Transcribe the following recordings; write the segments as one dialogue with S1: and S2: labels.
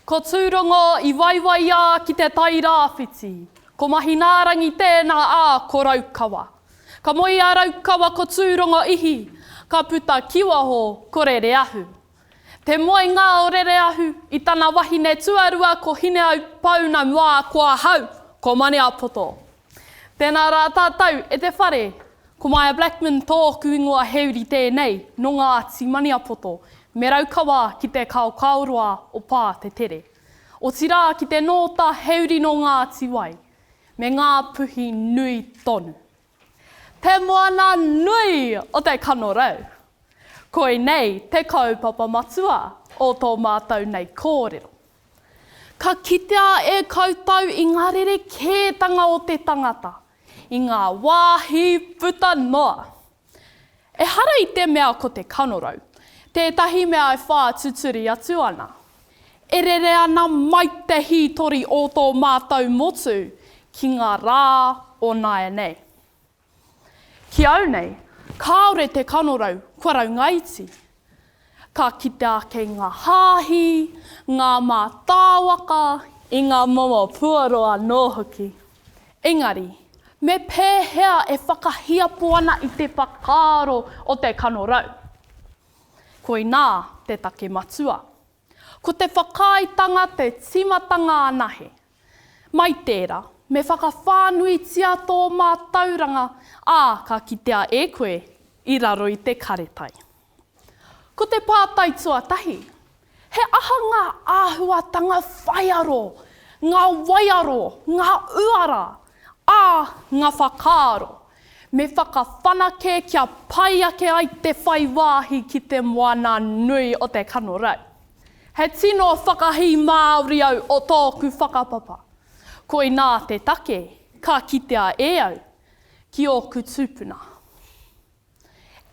S1: Ko Tūrongo i waiwaiā ki te Tairāwhiti. Ko Mahinaarangi tēnā ā, ko Raukawa. Ka moe i a Raukawa ko Tūrongo ihi, ka puta ki waho ko Rereahu. Te Moengaorereahu, i tana wahine tuarua ko Hineaupouuna mā ko ahau, ko Maniapoto. Tēnā rā tātou e te whare, ko Maia Blackman tōku ingoa he uri tēnei nō Ngāti Maniapoto, me Raukawa ki te kaokaoroa o Pā te Tere. Otirā ki te nōta he uri nō Ngāti Wai, me Ngā Puhi nui tonu. Te moana nui o te kanorau. Koinei te kaupapa matua o tō mātou nei kōrero. Ka kitea e koutou i ngā rerekētanga o te tangata, i ngā wāhi puta noa. Ehara i te mea ko te kanorau tētahi mea e whātuturi atu ana, E rere ana mai te hītori o tō mātou motu ki ngā rā o nāianei. Ki au nei, kāore te kanorau kua raungaiti. Ka kite ake ngā hāhi, ngā mātāwaka, i ngā momo puoro anō hoki. Engari, me pēhea e whakahiapo ana i te whakaaro o te kanorau? Koinā te take matua. Ko te whakaaetanga te tīmatanga anahe. Mai tērā, me whakawhānuitia tō mātauranga, ā, ka kitea e koe i raro i te karetai. Ko te pātai tuatahi, He aha ngā āhuatanga whaiaro, ngā waiaro, ngā uara, ā, ngā whakaaro me whakawhanake kia pai ake ai te whai wāhi ki Te Moana nui o te Kanorau? He tino whakahī Māori au o tōku whakapapa. Koinā te take ka kitea e au ki ōku tūpuna.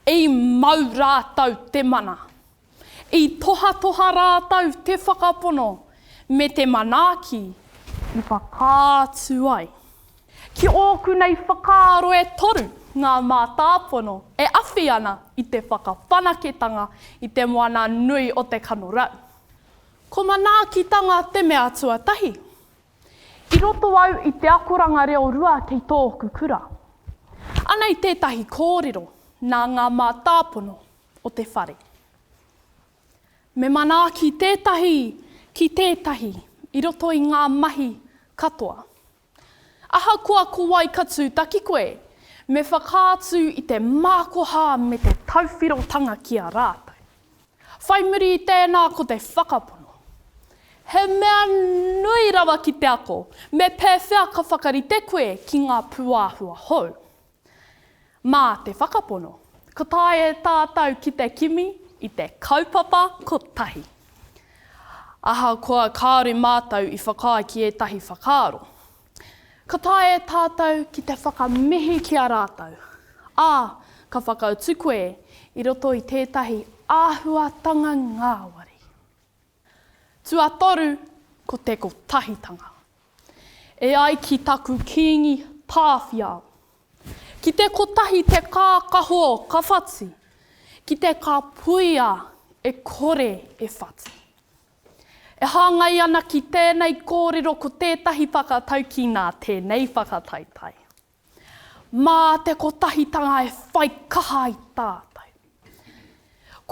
S1: I mau rātou te mana. I tohatoha rātou te whakapono me te manaaki i whakaatu ai. Ki ōku nei whakaaro e toru ngā mātāpono e awhi ana i te whakawhanaketanga i te moana nui o te kanorau. Ko manaakitanga te mea tuatahi. I roto au i te akoranga reo rua kei tōku kura. Anei tētahi kōrero nā ngā mātāpono o te whare. Me manaaki tētahi ki tētahi i roto i ngā mahi katoa. Ahakoa ko wai ka tūtaki koe, me whakaatu i te mākoha me te tauwhirotanga ki a rātou. Whai muri i tēnā ko te whakapono. He mea nui rawa ki te ako me pēwhea ka whakarite koe ki ngā pūāhua hou. Mā te whakapono, ka taea e tātou ki te kimi i te kaupapa kotahi. Ahakoa kāore mātou i whakaae ki ētahi whakaaro, Ka taea e tātou ki te whakamihi ki a rātou, ā, ka whakautu koe i roto i tētahi āhuatanga ngāwari. Tuatoru ko te kotahitanga. E ai ki taku Kīngi Tāwhiao, Ki te kotahi te kākaho ka whati, ki te ka puia e kore e whati. E hāngai ana ki tēnei kōrero ko tētahi whakataukī nā tēnei whakataetae. Mā te kotahitanga e whai kaha ai tātou.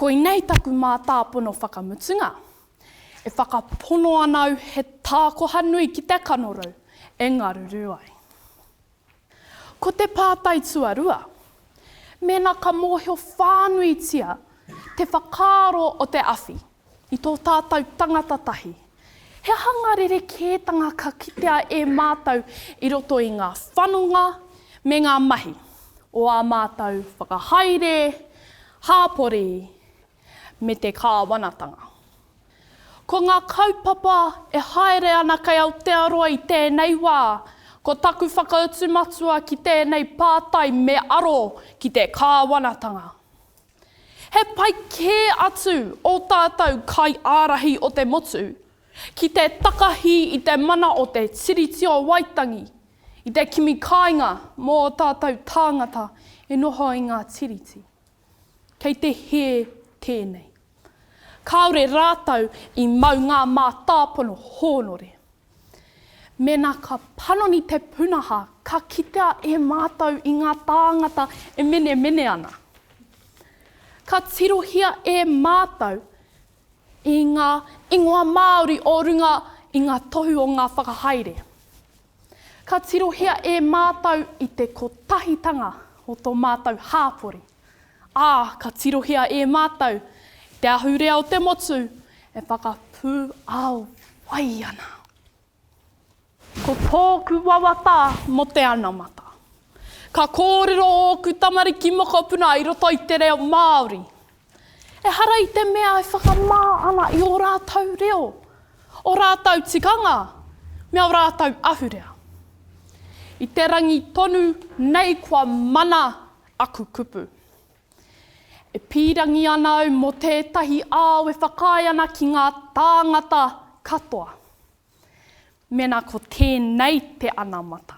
S1: Koinei taku mātāpono whakamutunga, e whakapono ana au he tākoha nui ki te kanorau e ngaruru ai. Ko te pātai tuarua, mēnā ka mōhio whānuitia te whakaaro o te awhi i tō tātou tangata tahi, he aha ngā rerekētanga ka kitea e mātou i roto i ngā whanonga me ngā mahi o ā mātou whakahaere, hāpori, me te kāwanatanga? Ko ngā kaupapa e haere ana kei Aotearoa i tēnei wā, ko taku whakautu matua ki tēnei pātai me aro ki te kāwanatanga. He pai kē atu ō tātou kaiārahi o te motu ki te takahi i te mana o te Tiriti o Waitangi i te kimi kāinga mō ō tātou tāngata e noho i ngā Tiriti. Kei te hē tēnei. Kāore rātou i mau ngā mātāpono hōnore. Mēnā ka panoni te punaha ka kitea e mātou i ngā tāngata e menemene ana. Ka tirohia e mātou i ngā ingoa Māori o runga i ngā tohu o ngā whakahaere. Ka tirohia e mātou i te kotahitanga o tō mātou hāpori, ā, ka tirohia e mātou i te ahurea o te motu e whakapūao ai ana. Ko tōku wawata mō te anamata. Ka kōrero ōku tamariki mokopuna i roto i te reo Māori. Ehara i te mea e whakamā ana i ō rātou reo, ō rātou tikanga, me ō rātou ahurea. I te rangi tonu nei kua mana aku kupu. E pīrangi ana au mō tētahi ao e whakaae ana ki ngā tāngata katoa. Mēnā ko tēnei te anamata,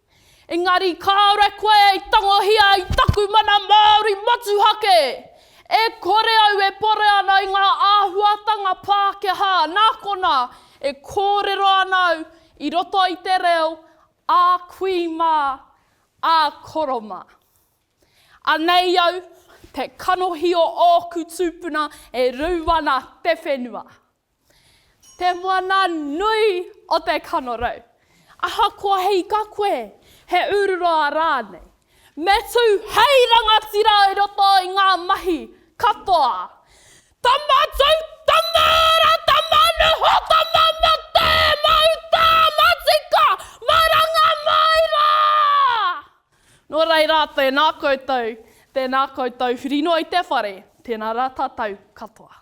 S1: Engari kāore koe i tangohia i taku mana Māori motuhake! E kore au e pore ana i ngā āhuatanga Pākehā, nā konā, e kōrero ana au i roto i te reo ā kui mā, ā koro mā. Anei au, te kanohi o ōku tūpuna e rou ana te whenua. Te moana nui o te kanorau. Ahakoa he ika koe, he ūruroa rānei, me tū hei rangatira i roto i ngā mahi katoa. Tama tū, tama ora, tama noho, tama mate, mauta, matika, maranga mai rā! Nō reira, tēnā koutou, tēnā koutou whirinoi te whare, tēnā rā tātou katoa.